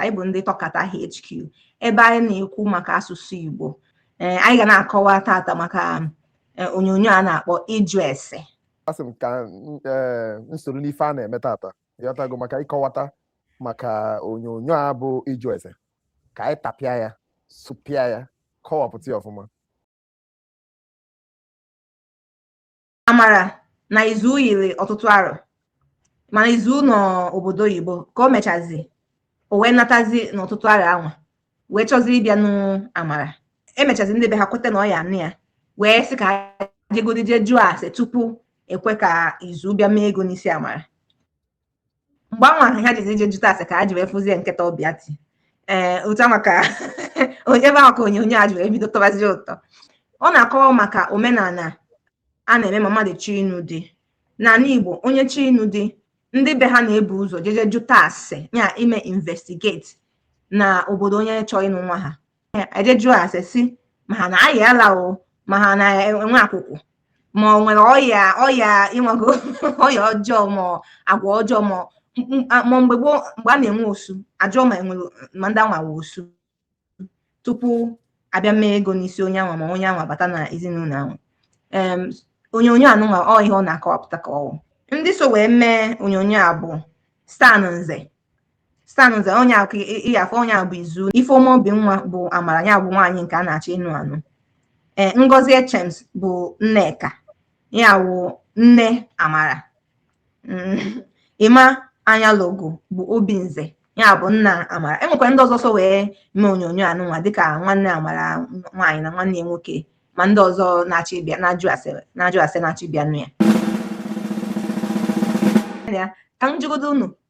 anyị bụ ndị tọkata HQ ebe anyị na-ekwu maka asụsụ Igbo eh, anyị ga na-akọwa tata maka eh, onyonyo a na-akpọ ịjụ ese asị m ka eh, nsoro n'ife a na-eme tata ị ghọtago maka ịkọwata maka onyonyo a bụ ịjụ ese ka anyị tapịa ya sụpịa ya kọwapụta ya ọfụma amara na izu yiri ọtụtụ arọ mana izu nọ obodo oyibo ka o mechazi o wee natazi n'ọtụtụ arọ anwa wee chọzi ịbịa nụ amara e mechazi ndị be ha kweta na ọ ya-anụ ya wee sị ka ha jegodi jee jụọ ase tupu e kwe ka izu bịa mee ego n'isi amara mgbe anwa ahụ ha jizi je jụta ase ka ha ji wee fụzie nkịta ọbịa ti ee ụta maka onye ebe ahụ ka onyonyo a ji wee bido tọbazi ụtọ ọ na-akọwa maka omenala a na-eme ma mmadụ chọọ ịnụ di n'ala Igbo onye chọọ ịnụ di ndị be ha na-ebu ụzọ jeje jụta ase ya ime investigate na obodo onye chọọ ịnụ nwa ha ya e je jụọ ase sị ma ha na-ayị ala o ma ha na-enwe akwụkwụ ma o nwere ọya ọya ịnwago ọya ọjọọ ma ọ agwa ọjọọ ma ọ- m- m- a- ma mgbe gboo mgbe a na-enwe osu a jụọ ma e nwere ma ndị anwa wụ osu tupu a bịa mee ego n'isi onye anwa ma onye anwa bata na ezinụlọ ahụ em onyonyo anụnwa ọ ihe ọ na-akọwapụta ka ọ wụ ndị so wee mee onyonyo a bụ stan nze stan nze onye akụ ịya afọ onye a bụ izu ifeoma obinwa bụ amara ya bụ nwaanyị nke a na-achọ ịnụ anụ ee ngozi echems bụ nneka ya wụ nne amara Mm, emma ayalogu bụ obinze ya bụ nna amara e nwekwa ndị ọzọ so wee mee onyonyo anụnwa dịka nwanne amara nwaanyị na nwanne ya nwoke ma ndị ọzọ na-achọ ịbịa na-ajụ ase na-ajụ ase na-achọ ịbịa nụ ya ya ka m jụgodo unu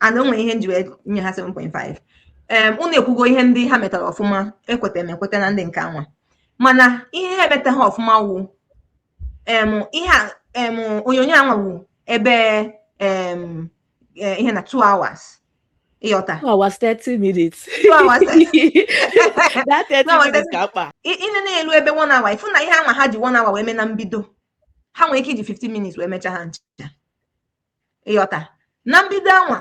and o nwere ihe m ji wee nye ha 7.5 em unu ekwugo ihe ndị ha metara ọfụma ekweta m ekweta na ndị nke anwa mana ihe ha emetaha ọfụma wụ em ihe a em onyonyo anwa wụ ebe em eh, ihe na 2 hours ị ghọta Two hours, 30 minutes. Two hours. that 30 Two hours, minutes ka mkpa. ị ị na na-elu ebe one hour ị fụ na ihe anwa ha ji one hour wee mee na mbido ha nwere ike iji 15 minutes wee mecha ha ncha ị ghọta na mbido anwa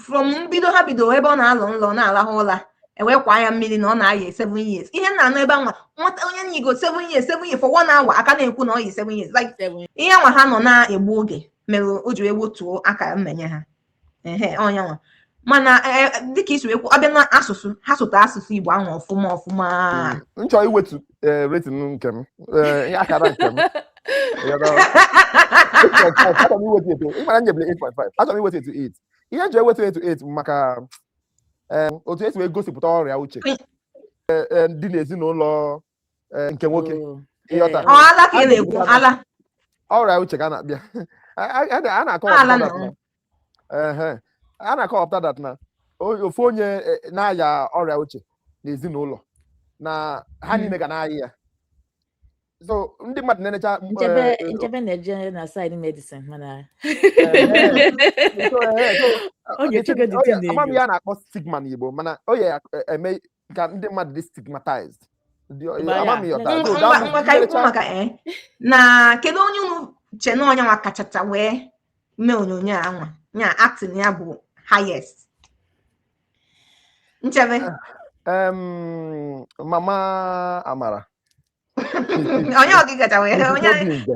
from mbido ha bido ebe ọ na-alọ nlọ na-alahụ ụla e wee kwa ya mmiri na ọ na-ayị seven years ihe m na-anụ ebe anwa nwata onye yigo seven years seven years for one hour a ka na-ekwu na ọ yi seven years like ihe anwa ha nọ na-egbu oge mere o ji wee gbutuo akara mmenye ha ehe ọ nya nwa mana e, e, dịka i si ekwu ọ bịa na asụsụ ha sụta asụsụ Igbo ahụ ọfụma ọfụma hmm, m chọ iwetu e, rating nke m akara nke m achọrọ m iwetu ya to ịmara nyebere 8.5 achọrọ m iwetu ya to 8 ihe m ji ewetu ya to 8 maka otu e si wee gosipụta ọrịa uche dị n'ezinụlọ nke nwoke hmm. ị ghọta ala ka ị na-ekwu ala ọrịa uche ka a na-abịa a na-akọwa a na-akọwapụta that na ofu onye e, na-aya ọrịa uche n'ezinụlọ na ha niile hmm. ga na-aya ya so ndị mmadụ na-enecha Nchebe na-eje na side medicine mana ama m ihe a na-akpọ stigma n'Igbo mana ọ ya-eme ka ndị mmadụ dị stigmatized Ndị- eh, Mba, ya. ama m ihe ọ tara. Mm, So, ngwa- that ngwa was- ka anyị kwuo maka eh, na kedu onye unu che na ọ nya nwa kachacha wee mee onyonyo anwa ya acting ya bụ highest Nchebe Em, mama Amara ọ nya nwa kachacha wee onye Obi nze.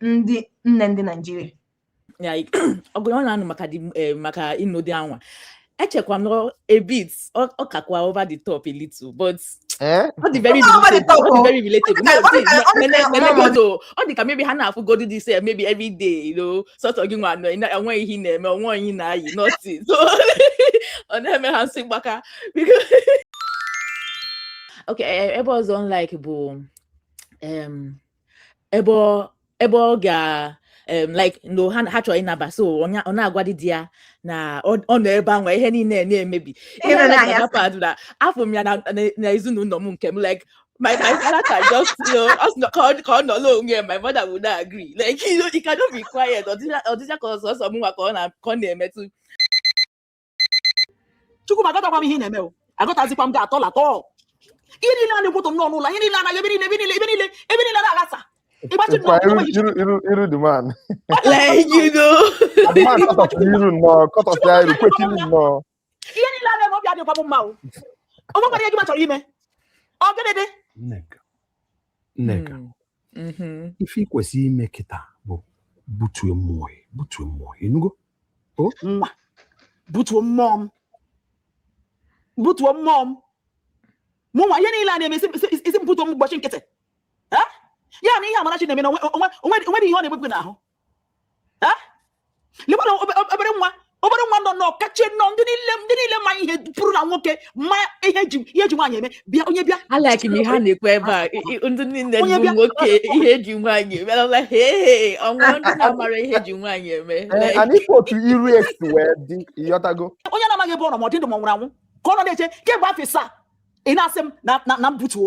ndị nne ndị Naịjirịa ọgụ ọ na-anụ maka eh, maka ịnụ di anwa echekwa m a bit ọ kakwa over the top a little but eh? ọ dị very relatable ọ dị ka maybe ha na-afụgodu this sef maybe every day you know sọsọ gị nwa enweghị ihe na-eme onweghị ihe na-ayi nothing so ọ na-eme ha isi mgbaka okay eh, ebe ọzọ like bụ ebe ọ ebe ọ ga em, like no ha ha chọrọ ịnaba so ọ na- ọ na-agwa di ya na ọ ọ nọ ebe ahụ ihe niile na-emebi Ihe Ihe nọ like n'ahịa Mama Pad na afụ m ya na na- na ezinụlọ m nke m like my my father can just you know us no- ka ọ ka ọ nọrọ onwe ya my mother would not agree like you know he cannot be quiet ọ dịcha ọ dịcha ka ọ sọsọ mụnwa ka ọ na ka ọ na-emetụ Chukwu ma aghọtakwa m ihe ị na-eme o aghọtazikwa m gị at all at all ihe niile a na-ewute m nnọọ n'ụlọ ihe niile anaghị ebe niile ebe niile ebe niile ebe niile na-aghasa ịgbachi nnọọ Kwa iru iru iru iru the man. Like, you know. The man kọtọsịa iru nnọọ kọtọsịa iru kwekiri nnọọ. ihe niile a na-eme obi adịkwa m mma o onwekwara ihe gị nwa chọrọ ime ọ gịnị dị Nneka. Nneka Mm. Mhm. ife ị kwesịrị ime kịta bụ butuo mmụọ gị butuo mmụọ gị ị nụgo nwa butuo mmụọ m butuo mmụọ m mụnwa ihe niile a na-eme ị sị- ị sị ị sị- ị sị m butuo m gbachi nkịtị Eh? ya na ihe Amarachi na-eme na onwe- onwe- onwe- onwere ihe ọ na-ebepụ n'ahụ lekwana obere nwa obere nwa nọ nọ kacha nọ ndị niile ndị niile ma ihe pụrụ na nwoke ma ihe e ji ihe e ji nwaanyị eme bịa onye bịa alaki na ihe a na-ekwu ebe a ndị niile bụ nwoke ihe e ji nwaanyị eme ala he ọnwa ndị na-amara ihe e ji nwaanyị eme anyị otu iru esi wee dị ịghọtago onye a na-amaghị ebe ọ nọ ma ọ dị ndụ ma ọ nwụrụ anwụ ka ọ nọ na-eche kemgbe afọ ịsaa ị na-asị m na m butuo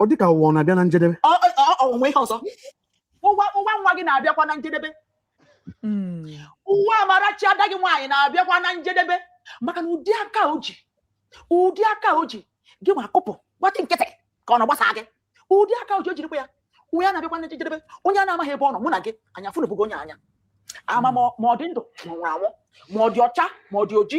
ọ dịka ụwa ọ na-abịa na njedebe o nwe ihe ọzọ ụwa ụwa nwa gị na-abịakwa na njedebe hmm. ụwa amarachi ada gị nwaanyị na-abịakwa na njedebe maka na ụdị aka o ji ụdị aka o ji gị ma akụpụ gbatị nkịtị ka ọ na-agbasa gị ụdị aka o ji o jirikwa ya onye na-abịakwa na njedebe onye a na-amaghị ebe ọ nọ mụ na gị anya fụnụbụgo onye anyị ama ma ọ dị ndụ ma ọ nwụrụ anwụ ma ọ dị ọcha ma ọ dị oji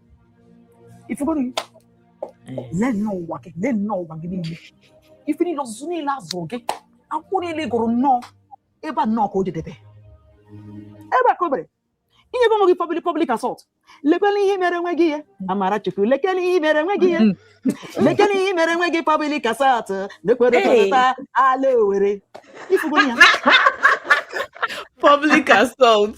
ifugoro gị lee nnọọ ụwa gị lee nnọọ ụwa gị niile ife niile ọzụzụ niile a zụrụ gị akwụkwọ niile ị gụrụ nnọọ ebe a nnọọ ka o jedebe ebe a ka o biri inyebe onwe gị public public assault lekele ihe i mere onwe gị ihe amarachukwu lekele ihe i mere onwe gị ihe lekele ihe i mere onwe gị public assault lekwere Hey. tọrọta ala owere ifugoro ya public assault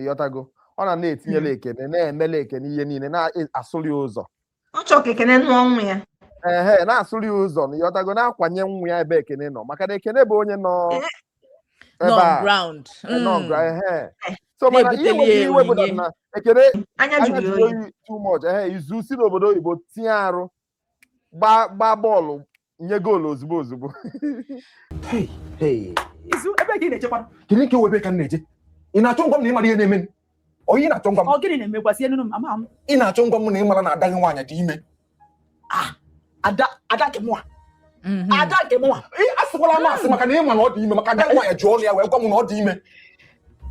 ịghọtago ọ na na-etinyela hmm. ekene na-emela ekene ihe niile na-asụrụ ya ụzọ ọ chọrọ ka ekene nụọ nwa ya ehe na-asụrụ ya ụzọ na ịghọtago na-akwanye nwa ya ebe ekene nọ maka na ekene bụ onye nọ eh, ebe a nọ hmm. ehe so mana ihe na-ewe m iwe bụ na ekene anya jụrụ oyi too much ehe izu si n'obodo oyibo tinye arụ gbaa bọọlụ nye goolu ozugbo ozugbo kedu nke bụ ebe ka m na-eje ị na-achọ ịgwa m na ịmara ihe na-eme onye na-achọ ịgwa m ị na-achọ ịgwa m na ịmara na ada gị nwaanyị dị ime ah, ada ada nke mụa Mhm. ada nke mụnwa asịkwala m asị maka na ịma na ọ dị ime maka ada nwaanyị ji ọnụ ya wee gwa m na ọ dị ime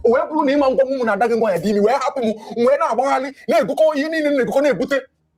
o wee bụrụ na ịma gwa m na ada gị nwaanyị dị ime wee hapụ m wee na-agbagharị na-ebukọ ihe niile na-ebukọ na-ebute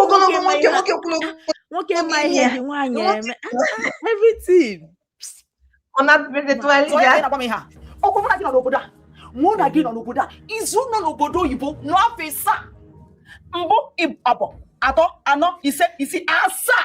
ogologo nwoke nwoke kwuru nwoke ma ihe e ji nwaanyị eme everything ọ na-abịa etu anyị ji ọkwa mụ na gị nọ n'obodo a mụ na gị nọ n'obodo a izu nọ n'obodo oyibo nọ afọ ịsaa mbụ abụọ atọ anọ ise isii asaa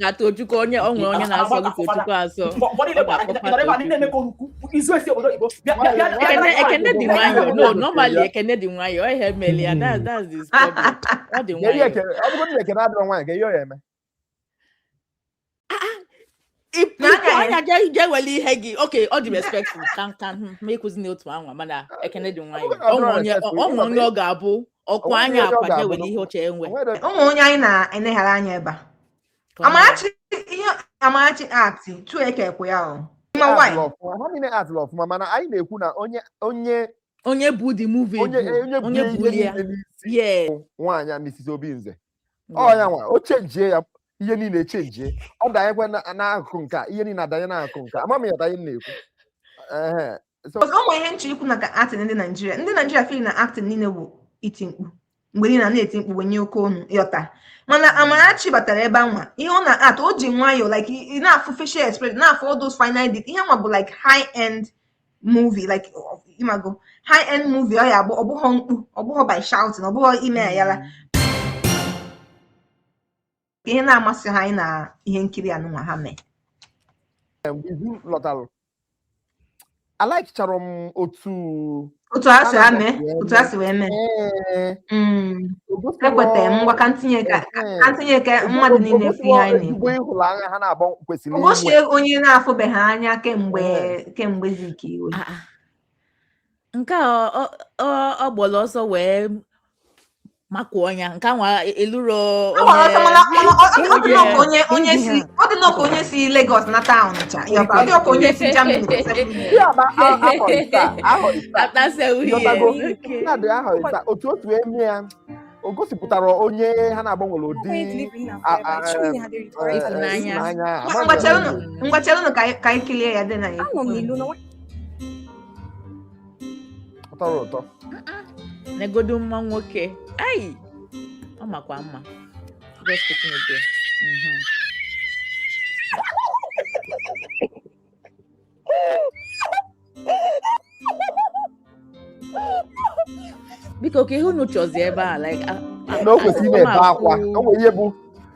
ka tochukwu onye o nwe onye na-asọ gị tochukwu asọ ekene dị nwayọọ no normally ekene dị nwayọọ ihe mere ya that's this problem ọ dị nwayọọ ịpụ anya ga-ewele ihe gị okay ọ dị respectful ka nka ma ịkụzi n'otu anwa mana ekene dị nwayọ ọnwa onye ọ ga-abụ ọkụ anya akwa ga-ewele ihe ọ chọ inwe ụmụ onye anyị na-eneghara anya ebe a amarachi ihe amarachi ati tu eke ekwe ya ọ ha niile actụrụ ọfụma mana anyị na-ekwu na onye onye onye bu the movie onye bu onye onye bu buru ihe a niile n'isi yes nwaanyị a Mrs. Obinze ọ ya nwa o chenjie ya ihe niile echenjie ọ danyekwa na- n'akụkụ nke a ihe niile adanye n'akụkụ nke a ama m ịghọta ihe m na-ekwu Ehe. So, Because ọ nwere ihe m chọ ikwu maka acting ndị Naijiria ndị Naijiria feel na acting niile bụ iti mkpu mgbe niile na-eti mkpu wenye oke ọnụ ịghọta mana mm. Amarachi batara ebe anwa ihe ọ na-act o ji nwayọọ like ị na-afụ facial expression na-afụ all those fine details ihe nwa bụ like high end movie like ịmago high end movie ọ ya bụ ọ bụghọ mkpu ọ bụghọ by shouting ọ bụghọ ime ayala mm. ihe na-amasị ha anyị n'ihe nkiri anụnwa ha mee Izu lọtara a likechara m otu otu a si ame otu a si wee mee ekweta m ngwa ka ntinye ka ntinye ka mmadụ niile fụ ihe anyị na-ekwu ụbọchị onye na-afụbeghị anya kemgbe kemgbe ziki iwe nke a ọ gbara ọsọ wee makụọ onye nke anwa elurọ ọ dị nọọ ka onye si Lagos nata ncha ọ dị nọọ ka onye si Germany otu otu eme ya o gosipụtara onye ha naabọ nwere ụdị ịhụnanya ngwa chelụnụ ka anyị kilie ya dị na ya ọ tọrọ ụtọ negodu mma nwoke ai ọ makwa mma just picking it there Mhm. biko kee ihe unu chọzi ebe a like a- a- na o kwesịrị ị na-ebe akwa o nwere ihe bụ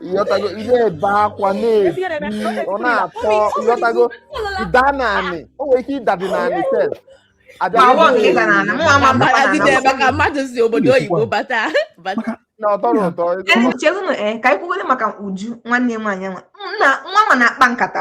ịghọtago ị na-ebe akwa na-eti ọ na-atọ ịghọtago ịda n'anị o nwere ike ịdadị n'anị maka mmadụ si obodo oyibo bata na ọ tọrọ ụtọ chezinụ ee ka anyị kwugodi maka Uju nwanne m nwaanyị nwa nwa ma na-akpa nkata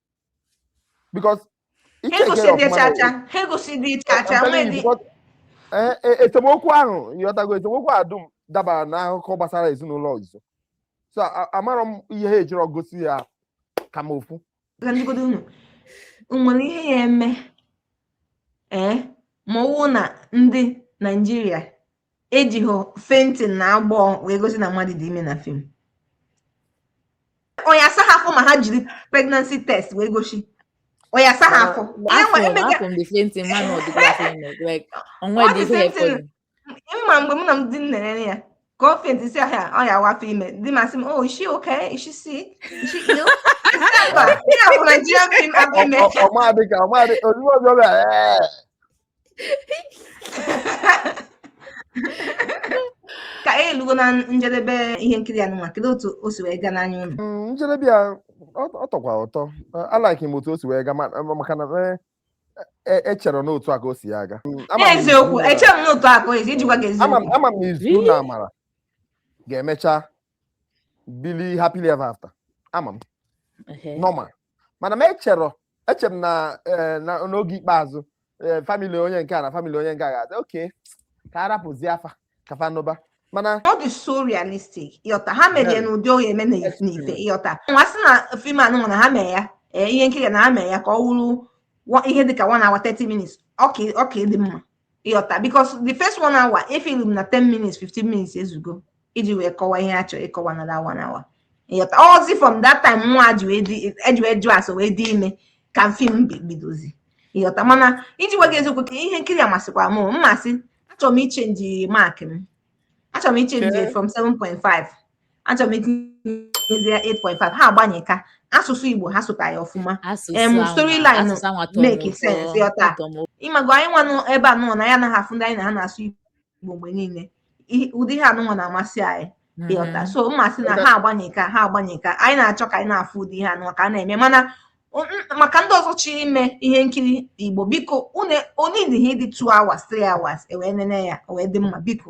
because esemokwu ahụ ịghọtago esemokwu ahụ dum dabara n'akụkọ gbasara ezinụlọ ọzọ so amarọ m ihe ha ejirọ gosi ya ka m ofu nwere ihe ya eme ee ma ọwụ na ndị naijiria ejighị fainting na agbọ wee gosi na mmadụ dị ime na fim ọ ya-asa ha afọ ma ha jiri pregnancy test wee gosi ọ ya-asa ha afọ mma mgbe mụ na m di m na-ene ya ka ọ fenti si ahịa ọ ya wụ afọ ime di m asị m oh is she okay is she sick is she ill ọma dịka ọma dị ozugbo ọzọ bịa ka anyị elugo na njedebe ihe nkiri anụnwa kedu otu o si wee gaa n'anya unu mm, njedebe ya ọ tọkwa ụtọ alaiki m otu o si wee gaa maka na e, e, echerọ n'otu a ka o si ya aga mm, eziokwu echerọ m n'otu a ka o si iji gwa gị eziokwu ama m Izu na Amara ga-emecha bili happily ever after ama m normal mana m echerọ eche m na eh, na- n'oge ikpeazụ eh, famili onye nke a na famili onye nke a ga-adị okay ka a rapụzie fa ka fa nụba mana ọ dị so realistic ị ghọta ha mere ya n'ụdị ọ ga-eme na- Yes, n'ife yes. ị ghọta ọ wụ a sị na fim anụnwa na ha mee ya ee, ihe nkiri na ha mee ya ka ọ wụrụ wa- ihe dịka one hour 30 minutes ọ ka ọ ka ịdị mma ị ghọta because the first one hour efilu m na 10 minutes 15 minutes ezugo iji wee kọwa ihe a chọrọ ịkọwa na that one hour ị ghọta ọọzi from that time nwa ji wee dị eji wee jụ asọ wee dị ime ka fim bi- bidozi ị ghọta mana iji gwa gị eziokwu ka ihe nkiri a masịkwara m o, mmasị achọrọ m ichenji mark m achọrọ m ichenji Okay. from 7.5 achọrọ m itinyezie 8.5 ha agbanịka asụsụ Igbo ha sụta ya ọfụma em storyline make sense ị ghọta ị mago anyị nwanụ ebe anụnwa na anyị anaghị afụ ndị anyị na ha na-asụ Igbo mgbe niile ụdị ihe anụnwa na-amasị anyị ị ghọta mm-hmm. so mmasị na ha agbanịka ha agbanịka anyị na-achọ ka anyị na-afụ ụdị ihe anụnwa ka a na-eme mana maka ndị ọzọ chọrọ ime ihe nkiri Igbo biko o needighị ịdị 2 hours 3 hours e wee nene ya o wee dị mma biko